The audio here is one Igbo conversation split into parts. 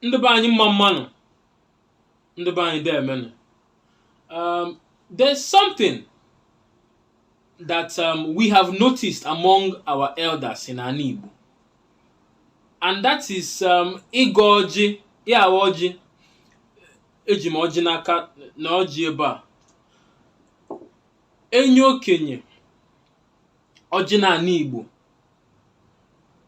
ndị be anyị mma mma nụ ndị be anyị deemenụ um, there's something that um, we have noticed among our elders in anị Igbo and that is um, ịgọ ọjị ya awa ọjị eji m ọjị n'aka na ọjị ebe a e nye okenye ọjị n'anị Igbo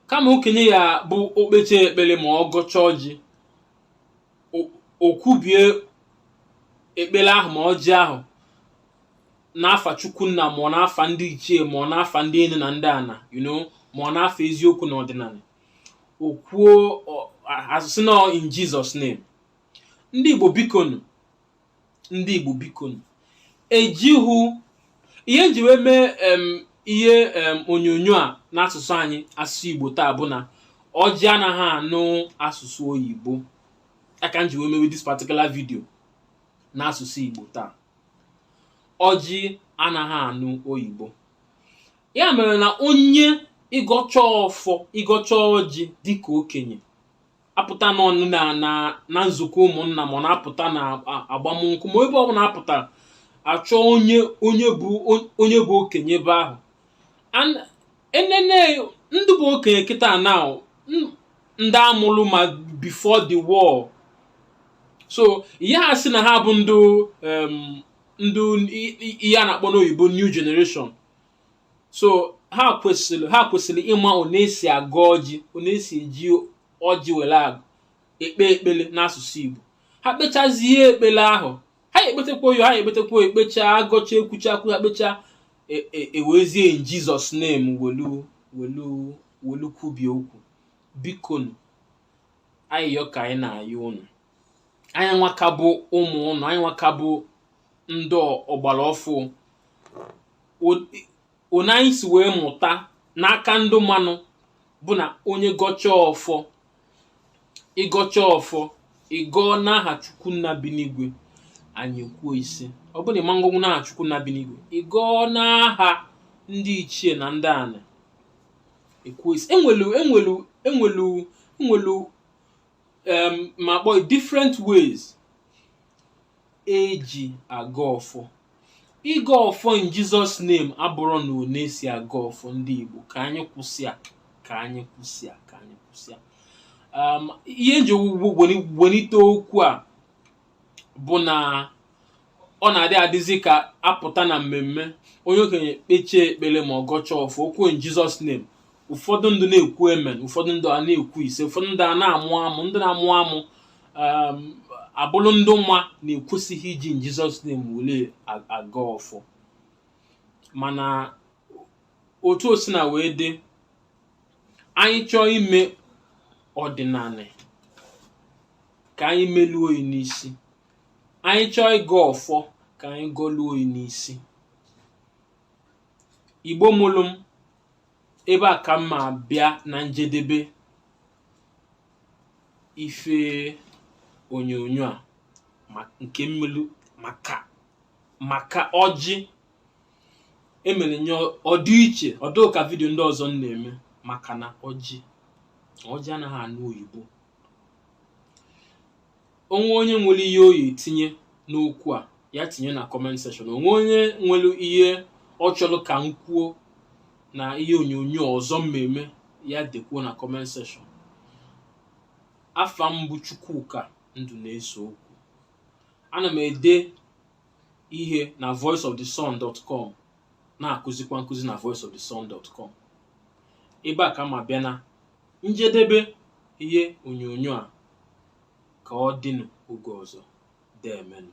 kama okenye ya bụ o kpecha ekpele ma ọ gọcha ọjị o- o kwubie ekpele ahụ ma ọjị ahụ n'afa chukwu nna ma ọ n'afa ndị ichie ma ọ n'afa ndị enu na ndị ana you know ma ọ n'afa eziokwu na ọdịnala o kwuo ọ- a- a sị na in Jesus name ndị Igbo biko nụ ndị Igbo biko nụ, e ji hụ ihe nji wee mee em, ihe em, onyonyo a n'asụsụ anyị asụsụ Igbo taa bụ na ọjị anaghị anụ asụsụ oyibo ya ka nji wee mewe this particular video n'asụsụ Igbo taa ọjị anaghị anụ oyibo ya mere na onye ị gọcha ọfọ ị gọcha ọjị dịka okenye a pụta n'ọnụ na na na nzukọ ụmụnna ma ọ na-apụta na a- agbamnkwụ ma ọ ebe ọ bụna a pụtara a chọ onye onye bụ onye bụ okenye ebe ahụ And e nene ndị bụ okenye kịta na ọ ndị a mụrụ ma before the war so ị yaha asị na ha bụ ndị em, ndị i- i- ihe a na-akpọ n'oyibo new generation so ha kwesịrị ha kwesịrị ịma one esi agọ ọjị one esi eji ọjị were agọ ekpe ekpele n'asụsụ Igbo ha kpechazie ekpele ahụ ha ekpetekwa oyo ha ekpetekwa oyo ekpecha agọcha ekwucha okwu ha kpecha e- e- ewezie in Jesus name welu welu welu kwubie okwu biko nụ ayịyọ ka anyị na-ayọ unu anyị nwa ka bụ ụmụ ụnụ anyị nwa ka bụ ndị ọgbara ọfụụ one anyị si wee mụta n'aka ndị maanụ bụ na onye gọcha ọfọ ị gọcha ọfọ ị gọọ n'aha chukwu nna bi n'igwe anyị ekwuo ise ọ bụrụ na ị ma ngọnwu n'aha chukwu nna bi n'igwe ị gọọ n'aha ndị ichie na ndị anị ekwuo ise enwelu enwelu enwelu enwelu um, ma kpọọ different ways eji agọ ọfọ ịgọ ọfọ in Jesus name abụrọ na one esi agọ ọfọ ndị Igbo ka anyị kwụsị a ka anyị kwụsị a ka anyị kwụsị a um, ihe nji welite okwu a bụ na ọ na-adị adịzi ka a pụta na mmemme onye okenye kpechie ekpere ma ọ gọcha ọfọ o kwuo in Jesus name ụfọdụ ndụ na-ekwu amen ụfọdụ ndụ a na-ekwu ise ụfọdụ ndụ a na-amụ amụ ndị na-amụ amụ um, abụrụ ndụ ma na e kwesịghị iji in Jesus name were a- agọ ọfọ mana otu o sina wee dị anyị chọọ ime ọdịnanị ka anyị meluo ya n'isi anyị chọọ ịgọ ọfọ ka anyị gọluo ya n'isi igbo mụrụ m ebe a ka m ma-abịa na njedebe ife onyonyo a ma- nke m melu maka maka ọjị emere m ya ọ dị iche ọ dụghị ka vidio ndị ọzọ m na-eme maka na ọjị ọjị anaghị anụ oyibo o nwee onye nwere ihe ọ ya-etinye n'okwu a ya tinye na comment section o nwee onye nwere ihe ọ chọrọ ka m kwuo na ihe onyonyo ọzọ m ma-eme ya dekwuo na comment section afa m bụ chukwuka ndụneseokwu ana m ede ihe na voiceofthesun.com na-akụzikwa nkụzi na voiceofthesun.com ebe a ka m ma-abịa na njedebe ihe onyonyo a ka ọ dịnụ oge ọzọ deemenụ